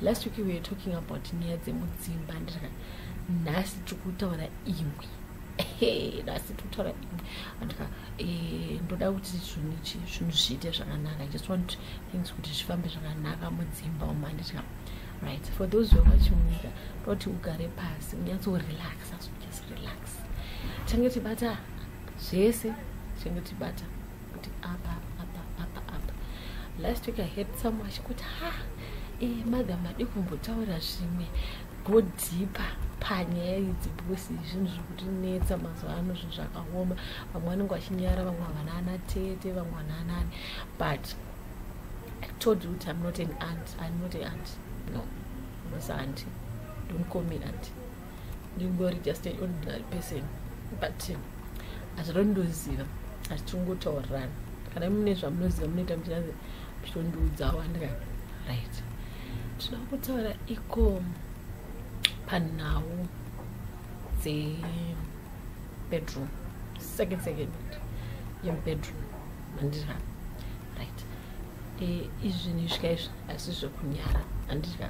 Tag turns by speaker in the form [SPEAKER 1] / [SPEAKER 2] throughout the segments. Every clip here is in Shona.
[SPEAKER 1] last week we were talking about nyaya dzemudzimba ndika nhasi tiri kutaura imwe nhasi tiri kutaura imwe andika eh, ndoda kuti zvinhu zvinhu zviite zvakanaka just want things kuti zvifambe zvakanaka mudzimba umu anditika right for those who vachimunyika toti ugare pasi unyatsorelax asojust relax tange tibata zvese tange tibata kuti apa apa apa apa last week i heard someone achikuti ha e eh, mother madi kumbotaura zvimwe go deeper panyaya idzi because zvinhu zviri kutinetsa mazuva ano zvinhu zvakaoma vamwe vanenge vachinyara vamwe havana ana tete vamwe vana anani but i told you kuti i'm not an aunt i'm not an aunt no musanti don't call me aunt ndingori just an ordinary person but hazvirondoziva asi tiringotaurirana kana mune zvamunoziva munoita muchiranzi muchitondiudzawo andika right tinoda kutaura iko panhau dzebedroom second second yemubedroom mandira right e, izvi nezvika izvi asi zvekunyara andika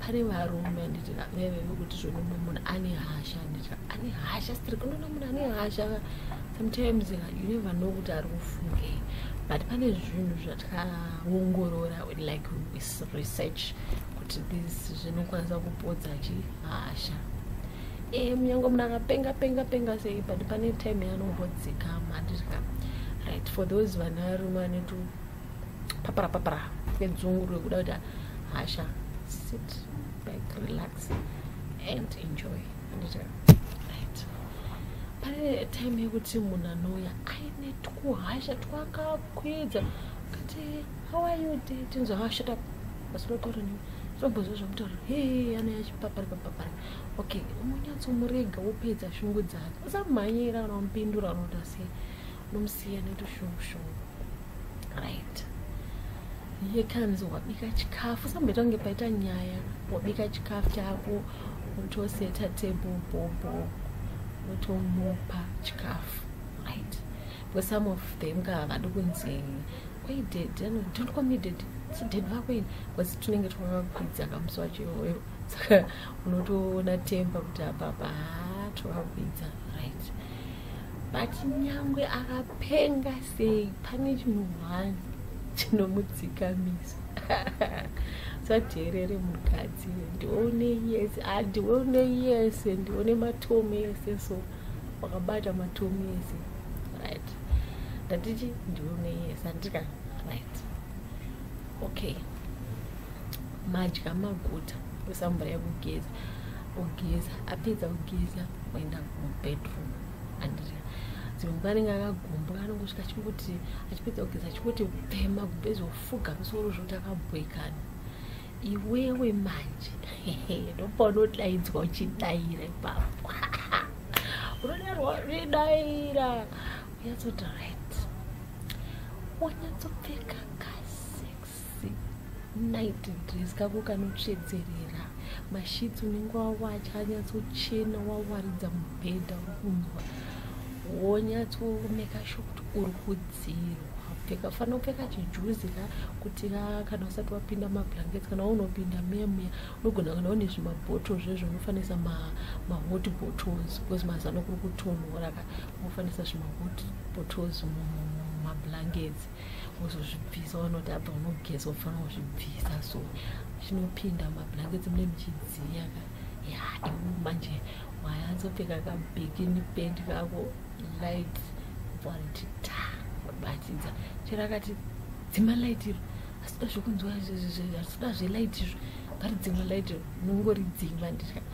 [SPEAKER 1] pane varume anditi vaive vekuti zvino mumwe munhu ane hasha anditi ane hasha strik unoona munhu ane hasha sometimes uh, you never know kuti ari kufunge but pane zvinhu zvatakaongorora like research kuti this zvinokwanisa kupodza chi hasha e munyange munhu akapenga penga penga sei but pane time yanombodzikama anditi ka right for those vana varume vanotu papara papara nedzungu rwekuda kuita hasha sit back relax and enjoy right pane time yekuti munhu anouya aine twuhasha twakakwidza kati how are you day tinzwa hashata basi lotaura nini zvombozva zvamutaura he ana yachipapari papapari okay unonyatsomurega wopedza shungu dzake usamhanyira kana umupindura unoda sei nomusiya netushungushungu right ye kanzi wabika chikafu samboita kunge paita nyaya wabika chikafu chako wotoseta table bobo wotomupa chikafu right because some of them ka havadi kunzi kwai dad don't call me dad so dad vako ini because tinenge twavakwidza kamusi wacho iwoyo saka unotoona temba kuti apapa haa twavakwidza right but nyangwe akapenga sei pane chinhu one chinomudzikamisa sadherere mukadzi ndione yese andione ah, yese ndione matomu yese so wakabata matomu yese right ndatichi ndione yese andika right okay madya maguta oisa mvura yekugeza ogeza apedza kugeza oenda mubedroom andiri dzimwe nguva anenge akagomba anongosvika achingoti achipedza kugeza achingoti pema kubhezi ofuga musoro zvokuti akabhoikana iwewe manje ndopaunodaidzwa uchidaira ipapo unodarwa uchidaira unyatsoti right unyatsopfeka night dress kako kanotsvedzerera mashitsi unenge wawacha anyatsochena wawaridza mubhedha uri kunzwa wonyatsomeka sho kuti uri kudzirwa pfeka fanira kupfeka chijuzi ka kuti ka kana usati wapinda mablankets kana waunopinda muya muya unogona kana une zvimabhottle zvezvo unofanisa mahot ma bottles because mazano kuri kutonhora ka unofanisa zvimahot bottles mumablankets wozozvibvisa wanoti apa unogeza ufanira kuzvibvisa so zvinopinda mablankets mune muchidziya ka ya iwe manje wayanzopfeka kabikini pendi kako light vanti ta wabatidza chero akati dzima light iro asida zvekunzwa asida zvelight izvo ngaridzima light iro unongoridzima ndikati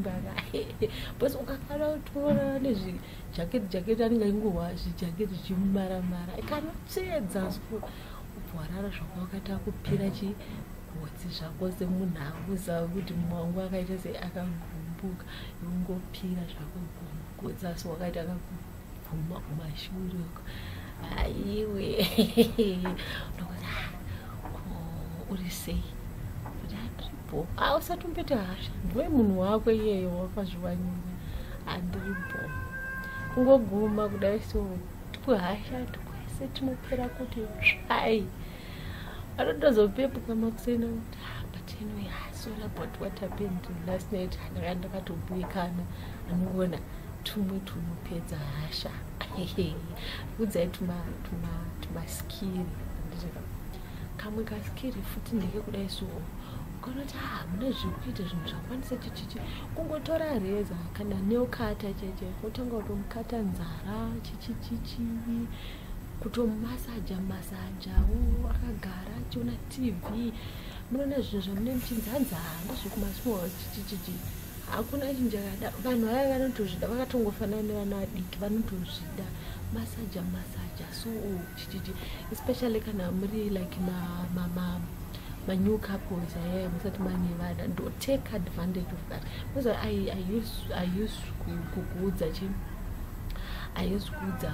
[SPEAKER 1] mbara bcause ukakwana kutorana nezvijaketi jaketi anenge aingohwa zvijaketi zvimumara mara kana tsvedza so ubwarara zvako wakaita kupira chi gotsi zvako semunhu akuziva kuti mwangu akaita sei akagumbuka ungopira zvako gotsi asi wakaita kakuguma kumashure uko aiwe ndokuti ah, uri sei bho a usati umbete hasha ndiwe munhu wako iyeyo wakazviwanyira handiri bho kungoguma kudai so tikuhasha tikwese tinopera kuti tsvai anotozopepuka makuseni kuti ah, but anyway ah, sorry about what happened last night ndaka ndakatobuyikana anongona tumwe tunopedza hasha udzai tumaskiri tuma, tuma kamwe kaskiri futi ndeke kudai soo ukanoti ha ah, mune zvekuita zvinhu zvakwanisa chichichi kungotora reza kana neukata cheche wotanga kutomukata nzara chichichichi kutomasaja masajawo akagara achiona tv munoona zvinhu zvamune muchinzi hanzi ha ah, ndozvekumasuwa chichichichi hakuna chinjakada vanhu vaya vanotozvida vakatongofanana nevana vadiki vanotozvida masaja masaja soo especially kana muri like ma, ma, ma, ma new couples aye musati manevada ndo take advantage of that because i, I use, I use kukuudza chi i use kuudza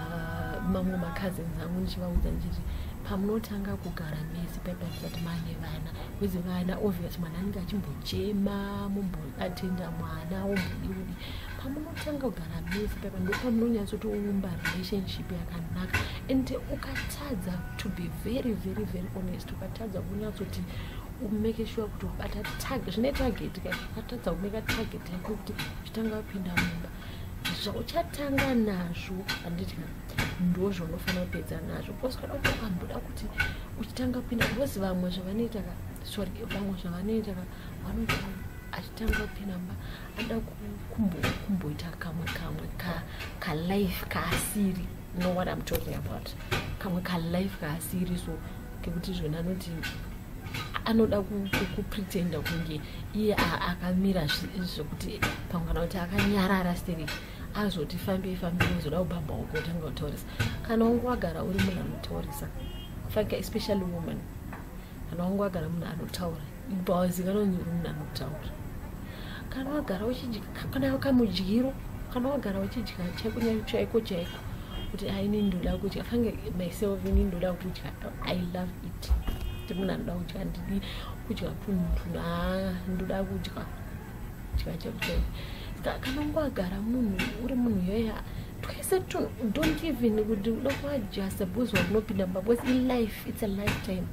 [SPEAKER 1] mamwe macousins angu ndichivaudza ndichiti pamunotanga kugara mese paipa kusati mane vana bcause vana obvious mwana anenge achimbochema mumboatenda mwana wombodiudi pamunotanga kugara befu paipa ndopamunonyatsoti uumba relationship yakanaka and ukatadza to be very very very honest ukatadza kunyatsoti umeke shuwa kuti ubata target zvine target ka ukatadza kumeka target yako kuti zvitanga wapinda mumba zvauchatanga nazvo handiti ndozvo unofanira kupedza nazvo because kana utokamboda kuti uchitanga kupinda because vamwe zvavanoita ka sorry vamwe zvavanoita ka vanoti achitanga kupinda mumba kuda kumboita kamwe kamwe kalife kaasiri know what im talking about kamwe kalife kaasiri so kekuti zvona anoti anoda kupretenda kunge iye akamira zvekuti pamwe kana kuti akanyarara siri azoti fambei fambei uzoda kubamba uko otanga kutaurisa kana unge wagara uri munhu anotaurisa fake especially woman kana wangu agara munhu anotaura bawazikana unzi uri munhu anotaura kana wagara uchidya kana wakamudyiro kana wagara uchidya chaiko chaiko chaiko kuti aini ndoda kudya fange myself ini ndoda kudya i love it kuti munhu anoda kudya ndidi kudya kunhu na ndoda kudya kudya chaiko chaiko kana wangu agara munhu uri munhu yoya twese tun don't even kuti uda kuadjusta because wakunopinda mumba because ilife it's a lifetime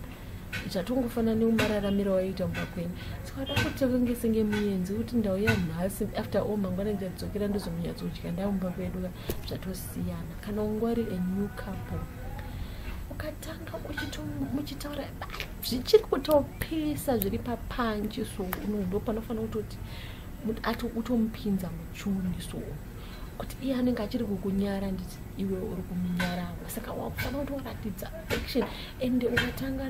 [SPEAKER 1] zvatongofanana neumararamiro waiita mumba kwenyu sikada kuti kunge senge muyenzi kuti ndau yanhasi after all mangwana ndichadzokera ndozomunyatso kudya ndau mumba kwedu ka zvatosiyana kana ungwari a new couple ukatanga muchitaura zvichiri kutopisa zviri papanji so unondo panofanira kutoti utomupinza muchuni so kuti iye anenge achiri kukunyara nditi iwe uri kumunyarawo saka wakufanira kuti waratidza action and ukatanga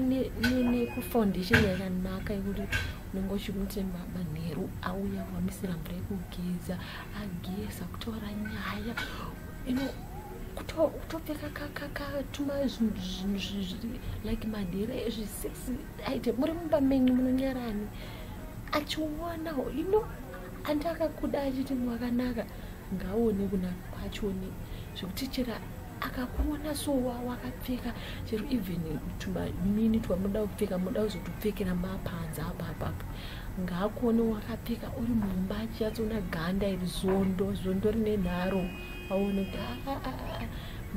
[SPEAKER 1] nekufoundation yakanaka yekuti unenge uchikuti manheru auya wamisira mvura yekugeza ageza kutora nyaya ino kutopfeka kakatuma like madhiri ezvi six aite muri mumba menyu munonyarani achiona ino andi akakuda achiti mwakanaka ngaone kuna kwachoni zvekuti chera akakuona so wakapfeka chero even tumanini twamunoda kupfeka munoda kuzotopfekera mapanza apapapo ngaakuone wakapfeka uri mumba achiyatsona ganda iri zondo zondo rine nharo aone kuti ah, ah, ah,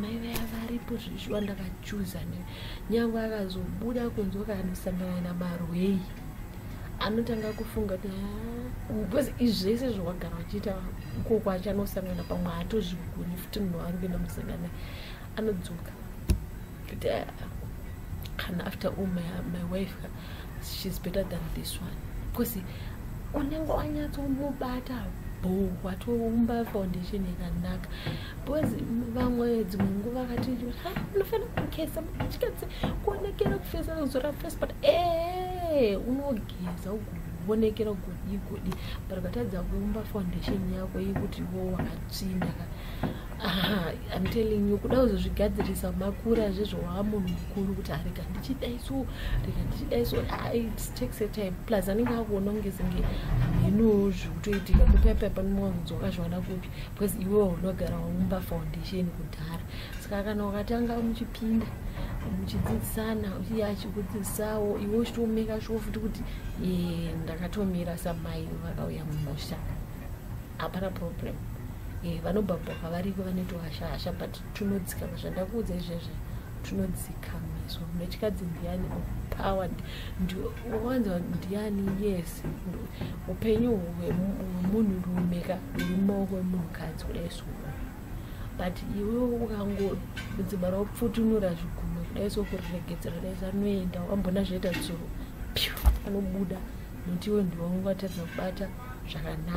[SPEAKER 1] mai vaya varipo zvishuwa ndakachuza ne nyange akazobuda kunzi wakanosangana namarwei anotanga kufunga kuti ah, because izvese zvawagara uchiita uko kwacho anosangana pamwe haatozvigoni futi munhu waari kuenda musangana anodzoka kuti ah, kana after all my, my wife she's better than this one because unenge wanyatsomubata bho watoumba foundation yakanaka mm -hmm. because vamwe dzimwe nguva vakati ah, unofanira kugeza muchikadzi kuonekera kufesa kuzora face but ee eh, unogeza ugovonekera kugodi godi but ukatadza kuumba foundation yako yekuti wo wakatsvinda im telling you kuda kuzozvigadzirisa makura zvezvowava munhu mukuru kuti arega ah, ndichidai so rega ndichidai so ah, it takes a time plus anenge akuona kunge senge hameno zviri kutoitika kupepa panowanzwa kazviwana kupi because iwewo unogara waumba foundation kudhara saka kana ukatanga muchipinda muchidzidzisana uye achikudzidzisawo iwe uchitomeka shuwo futi kuti eh, ndakatomira samai vakauya mumusha hapana problem eh, vanobhabhoka variko vanotohasha hasha but tunodzikama zvandakuudza izvezve tunodzikama izvo mechikadzi ndiyani power ndiwanzwa ndiyani yes upenyu hwemunhu rume ka huri mumaoko emunhukadzi kudai so but iwe ukangodzimara wapfutunura zvigume kudai so kuriregedzera dai sanoenda wambona zvaita dzuro pyu anobuda muti iwe ndiwangu vatadza kubata zvakanaka